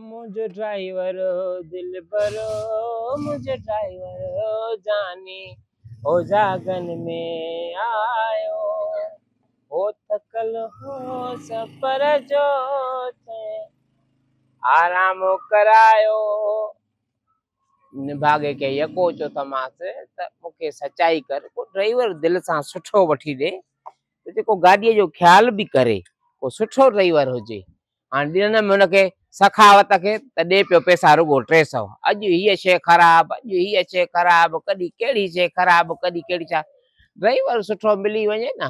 منهنجو ڊرائيور او دلبر او منهنجو ڊرائيور او جاني او جاڳن ۾ آيو او ٿڪل هو سفر جو تنهن آرام ڪرايو نڀاڳي کي يڪو چو تماس ته مون کي سچائي ڪر ڪو ڊرائيور دل سان سٺو وٺي ڏي ته جيڪو گاڏيء جو خيال به ڪري ڪو سٺو ڊرائيور هجي هاڻي ڏنم هن کي سخاوت کي ته ڏي پيو پئسا رڳو ٽي سئو اڄ هيء شيء خراب اڄ هيء شيء خراب ڪڏهن ڪهڙي شيء خراب ڪڏهن ڪهڙي ڇا ڊرائيور سٺو ملي وڃي نه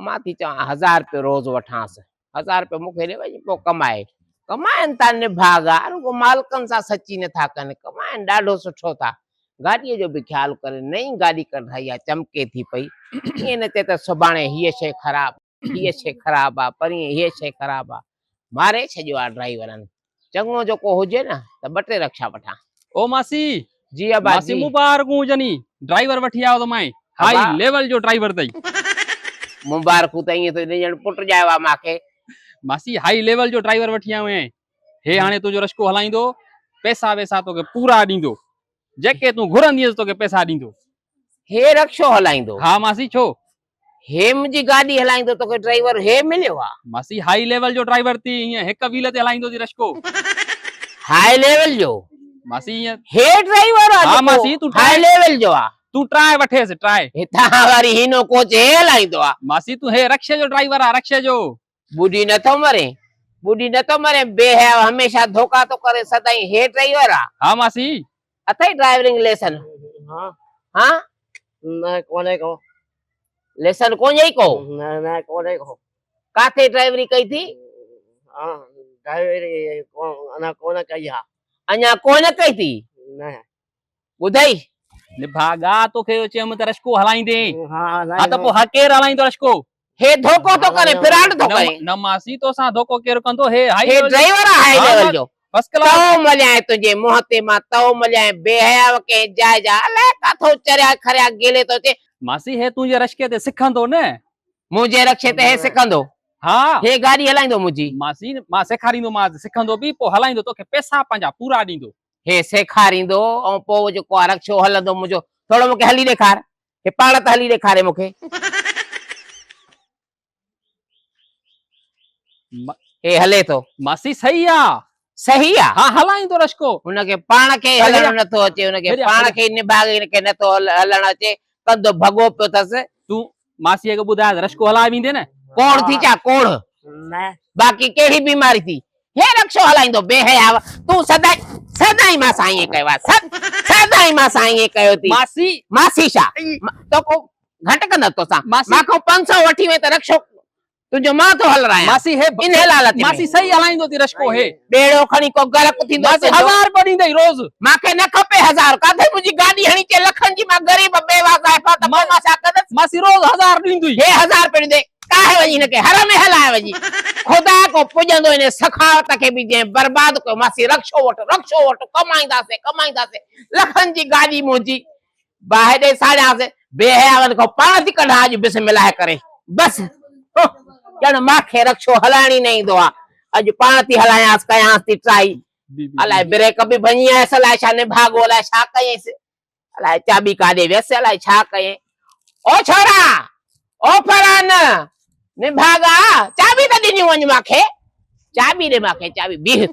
مان ٿي چوان هزار رپيو روز وٺانس هزار رپيو مون کي ڏي وڃي پوء ڪمائي ڪمائن ٿا نڀاڳا رڳو مالڪن سان سچي نٿا ڪن ڪمائن ڏاڍو سٺو ٿا گاڏيء جو به خيال ڪري نئين گاڏي ڪڍرائي آ چمڪي ٿي پئي ائين نه ٿئي ته سڀاڻي هيء شيء خراب هيء شيء خراب آ پرين هيء شيء خراب آ ماري ڇڏيو آ ڊرائيورن چڱو جو ڪو هجي نه ته ٻه ٽي رڪشا وٺان. او ماسي جي ابا ماسي جي. مون بارڪون هجن هي ڊرائيور وٺي آيو ته مائين هاء ابا. ليول جو ڊرائيور تئي. مبارڪون ته ائين ٿو ڏي ڄڻ پٽ ڄايو آ مان کي. ماسي هاء ليول جو ڊرائيور وٺي آيو آهين هي هاڻي تنهنجو رشڪو هلائيندو پئسا وئسا توکي پورا ڏيندو جيڪي تون گهرندينس توکي پئسا ڏيندو. هي رڪشو هلائيندو. ها ماسي ڇو هي منهنجي گاڏي هلائيندو توکي ڊرائيور هي مليو آ. ماسي هائي ليول جو ڊرائيور ٿي هيئن هڪ ويل تي هلائيندو ٿي رشڪو. هائي ليول جو ماسي هيئن. هي ڊرائيور آ جيڪو هائي ليول جو آ. تون ٽرائي وٺيس ٽرائي. هتان واري هينو ڪوچ هي هلائيندو آ. ماسي تون هي رڪشي جو ڊرائيور آ رڪشي جو. ٻڏي نه ٿو مرين، ٻڏي نه ٿو مرين، بي حياء هميشه ڌوڪا ٿو ڪرين، سدائين هيء ڊرائيور آ؟ ها ماسي. اٿئي ڊرائيورنگ ليسن؟ ها. ها؟ نه ڪونهي ڪو. ليسن ڪونهي ڪو؟ نه نه ڪونهي ڪو. ڪاٿي ڊرائيوري ڪئي ٿي؟ ها ڊرائيوري اڃا ڪونه ڪئي آ. اڃا ڪونه ڪئي ٿي؟ نه. ٻڌئي نڀاڳا توکي جو چيم ته رشڪو هلائيندي ها ها ته پوء ها ڪير هلائيندو رشڪو هي ڌوڪو ٿو ڪري پراڊ ٿو ڪري نه ماسي توسان ڌوڪو ڪير ڪندو هي هائي هي ڊرائيور آ هائي ليول جو فرسٽ ڪلاس تو مليائين تنهنجي منهن تي مان تو مليائين بي حياء ڪنهن جاء جا الائي ڪاٿو چريا کريا گيلي ٿو اچي ماسي هي تنهنجي رشڪي تي سکندو نه منهنجي رڪشي تي هي سکندو ها هي گاڏي هلائيندو منهنجي ماسي مان سيکاريندومانس سکندو به پوء هلائيندو توکي پئسا پنهنجا پورا ڏيندو هي سيکاريندو ۽ پوء جيڪو آ رڪشو هلندو منهنجو ٿورو مونکي هلي ڏيکار هي پاڻ ته هلي ڏيکاري مونکي هي هلي ٿو ماسي صحيح آ صحيح آ ها هلائيندو رشڪو هن کي پاڻ کي هلڻ نه ٿو اچي هن کي پاڻ کي نڀاڳي هن کي نه ٿو هلڻ اچي ڪندو ڀڳو پيو ٿس تون ماسيء کي ٻڌايانس رڪشو هلائي ويندي نه. ڪوڙ ٿي ڇا ڪوڙ. باقي ڪهڙي بيماري ٿي هي رڪشو هلائيندو بي حياء تون سدائين سدائين مان سان ائين ڪيو آهي سدائين مان سان ائين ڪيو ٿي. ماسي. ماسي ڇا توکو گهٽ ڪندس توسان مان کان پنج سئو وٺي وئين ته رڪشو تنهنجو مان ٿو هل رايان. ماسي هي ان هيل حالت ۾. ماسي سهي هلائيندو ٿي رشڪو هي. ٻيڙو کڻي ڪو غرق ٿيندو تنهنجو. ماسي هزار روپيا ڏيندئي روز. مان کي نه کپي هزار. ڪاٿي منهنجي گاڏي هڻي چئي لکن جي مان غريب بيواه زائفا ته پوء مان ڇا ڪندس. ماسي روز هزار ڏيندئي. هي هزار روپيا ڏيندئي. ڪاهي وڃي هن کي هر ۾ هلائي وڃي. خدا ڪو پڄندو انهي سخاوت کي به جنهن برباد ڪيو. ماسي رڪشو وٺ رڪشو وٺ ڪمائينداسين ڪمائينداسين لکن جي گاڏي منهنجي باهه ڏئي ساڙيانس، بي حيائن کان پاڻ ٿي ڪڍان اڄ بسم الله ڪري بس ڄڻ مان کي رڪشو هلائڻ ئي نه ايندو آ اڄ پاڻ ٿي هلايانس ڪيانس ٿي ٽرائي الاء بريڪ به ڀڃي آيس الاء ڇا نڀاڳو الاء ڇا ڪيس الاء چاٻي ڪاڏي ويس الاء ڇا ڪيئن او ڇورا او فرحان نڀاڳا چاٻي ته ڏنيون وڃ مان کي چاٻي ڏي مان کي چاٻي بيهه